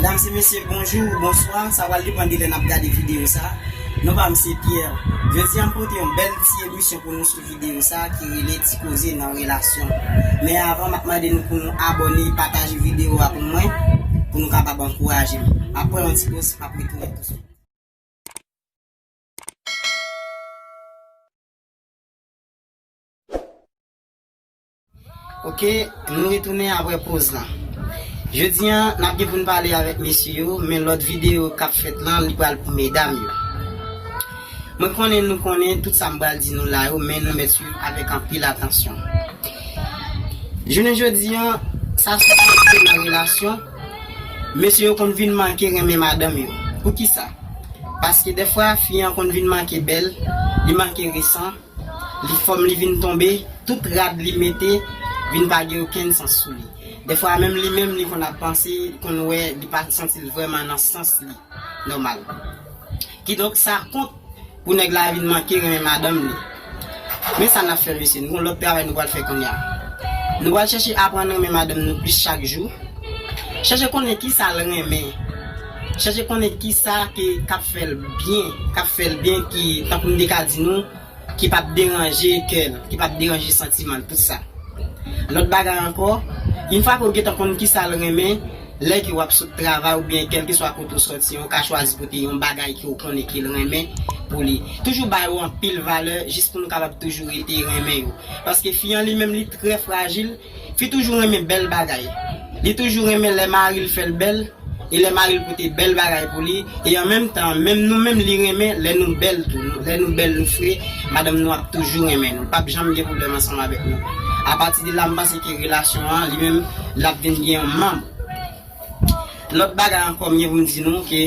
Medam e mesye bonjou ou bonswa, sa pral depan de lè nap gade video sa. Non pam se Pierre. Jodi a m pote yon bèl ti emisyon pou nou sou video sa ki rele ti koze nan relasyon. Men avan map mande nou pou nou abone, pataje video a pou mwen pou nou kapab ankouraje m. Map pran yon ti poz map retounen tout swit. Ok nou retounen apre poz lan. Jodi an nap gen poun pale avèk mesye yo men lòt video kap fèt lan li pral pou medam yo. Mwen konnen nou konnen tout sam pral di nou la yo men nou mèt swiv avèk anpil atansyon. Jounen jodi an sa sou pase nan relasyon. Mesye yo konn vin manke renmen madanm yo. Poukisa? Paske dèfwa fi an konn vin manke bèl, li manke resan, li fòm li vin tonbe, tout rad li mete vin pa gen okenn sans sou li. Dèfwa menm li menm li konn ap panse, li konn wè li pa santi l vrèman nan sans li nòmal. Kidonk sa kont Pou nèg la vin manke renmen madanm li. Men sa n ap fè mesye, nou gen yon lòt travay nou pral fè kounye a. Nou pral chèche aprann renmen madanm nou plis chak jou. Chèche konnen ki sa l renmen. Chèche konnen ki sa ke k ap fè l byen, k ap fè l byen ki, tankou m te ka di nou, ki pap deranje kè l, ki pap deranje santiman l, tout sa. Lòt bagay ankò, in fwa ke w gentan konn ki sa l renmen, Lè ke wap sot travay oubyen kèlkeswa kote ou sòti an ou ka chwazi pote yon bagay ke ou konnen ke l renmen pou li. Toujou ba yo anpil valè jis pou nou kapab toujou rete renmen yo. Paske fi an li menm li trè frajil, fi toujou renmen bèl bagay. Li toujou renmen lè mari l fè l bèl e lè mari l pote bèl bagay pou li e an menm tan an menm nou menm li renmen lè nou bèl tou. Lè nou bèl nou fre, madanm nou ap toujou renmen nou, l pap janm gen pwoblèm ansanm avèk nou. Apatide la m panse. Ki relasyon an li menm lap vin gen yon manm lòt bagay ankò mgen poum di nou ke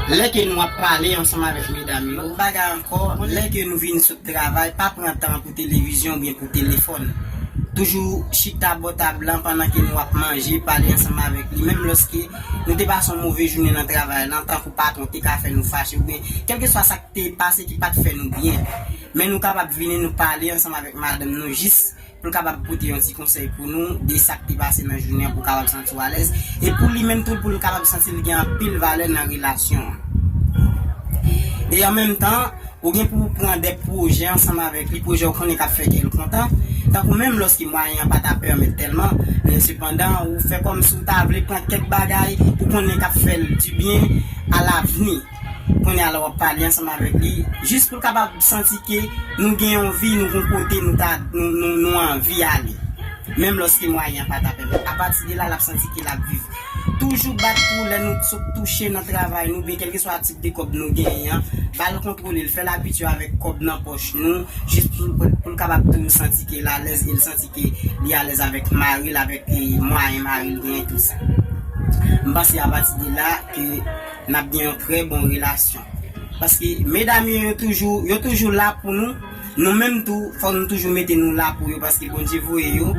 lè ke nou ap pale ansanm avèk medam yo lòt bagay ankò lè ke nou vin sot travay pa pran tan pou televizyon oubyen pou telefòn toujou chita bò tab lan pandan ke nou ap manje pale ansanm avèk li menm lòske nou te pase yon move jounen nan travay lan tankou patwon te ka fè nou fache oubyen kèlkeswa sak te pase ki pat fè nou byen men nou kapab vini nou pale ansanm avèk madanm nou jis pou l kapab pote yon ti konsèy pou nou de sa k te pase nan jounen an pou w kapab santi w alèz e pou li menm tou pou l kapab santi l gen anpil valè nan relasyon an. E an menm tan, ou gen pou w pran de pwojè ansanm avèk li, pwojè ou konnen k ap fè kè l kontan, tankou menm lòske mwayen an pa ta pèmèt tèlman, men sepandan ou fè kòmsi w ta vle pran kèk bagay ou konnen k ap fè l dibyen alavni. Kounye a la w ap pale ansanm avèk li jis pou l kapab santi ke nou gen yon vi, nou gon kote nou ta nou anvi ale. Menm lòske mwayen an pa ta pèmèt. Apati de la l ap santi ke l ap viv. Toujou bat pou lè nou sot touche nan travay nou oubyen kèlkeswa tip de kòb nou genyen an, ba l kontwole l, fè l abitye avèk kòb nan pòch nou jis pou l kapab toujou santi ke l alèz e l santi ke li alèz avèk mari l, avèk mwayen mari l genyen tou sa. M panse apati de la ke. Nap gen yon trè bon relasyon. Paske medam yo yo toujou yo toujou la pou nou, nou menm tou fòk nou toujou mete nou la pou yo paske Bondye voye yo,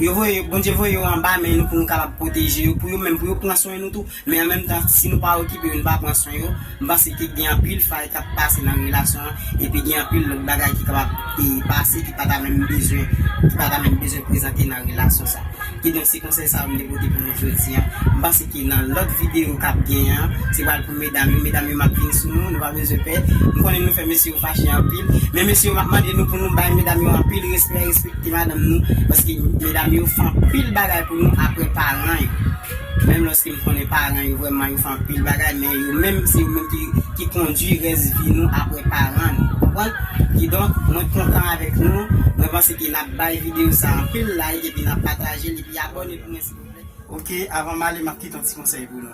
yo voye yo Bondye voye yo anba men nou pou nou kapab pwoteje yo pou yo menm pou yo pran swen nou tou men an menm tan si nou pa okipe yo nou pa pran swen yo m panse ke gen anpil fay kap pase nan relasyon an epi gen anpil lòt bagay ki kapab pase ki pa ta menm bezwen ki pa ta menm bezwen prezante nan relasyon sa kidonk se Se konsèy sa yo m te pote pou nou jodi an. M panse ke nan lòt videyo k ap gen an, se pral pou medam yo. Medam yo m ap vin sou nou, nou pa bezwen pè. M konnen nou fè mesye yo fache anpil. Men mesye yo m ap mande nou pou nou bay medam yo anpil respè, respekte madanm nou. Paske medam yo fè anpil bagay pou nou aprè paran yo. Menm lòske m konnen paran yo vrèman yo fè anpil bagay men yo menm se yo menm ki kondui rès vi nou aprè paran nou. Konprann? Kidonk mwen kontan avèk nou. Mwen panse. E nap bay video sa anpil like epi nap patajel epi abone pou mwen silvouplè. Ok avan m ale map kite yon ti konsèy pou nou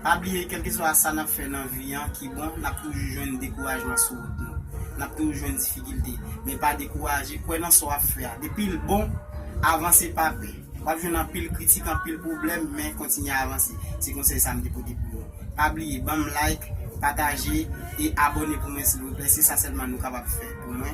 pa bliye kelkeswa sa nap fè nan vi an ki bon nap toujou jwenn dekourajman sou wout nou nap toujou jwenn difikilte men pa dekouraje kwè nan sa wap fè a depil bon avanse pa pè wap jwenn anpil kritik anpil pwoblèm men kontinye avanse se konsèy sa m te pote pou nou pa bliye banm like pataje e abone pou mwen silvouplè se sa sèlman nou kapab fè pou mwen.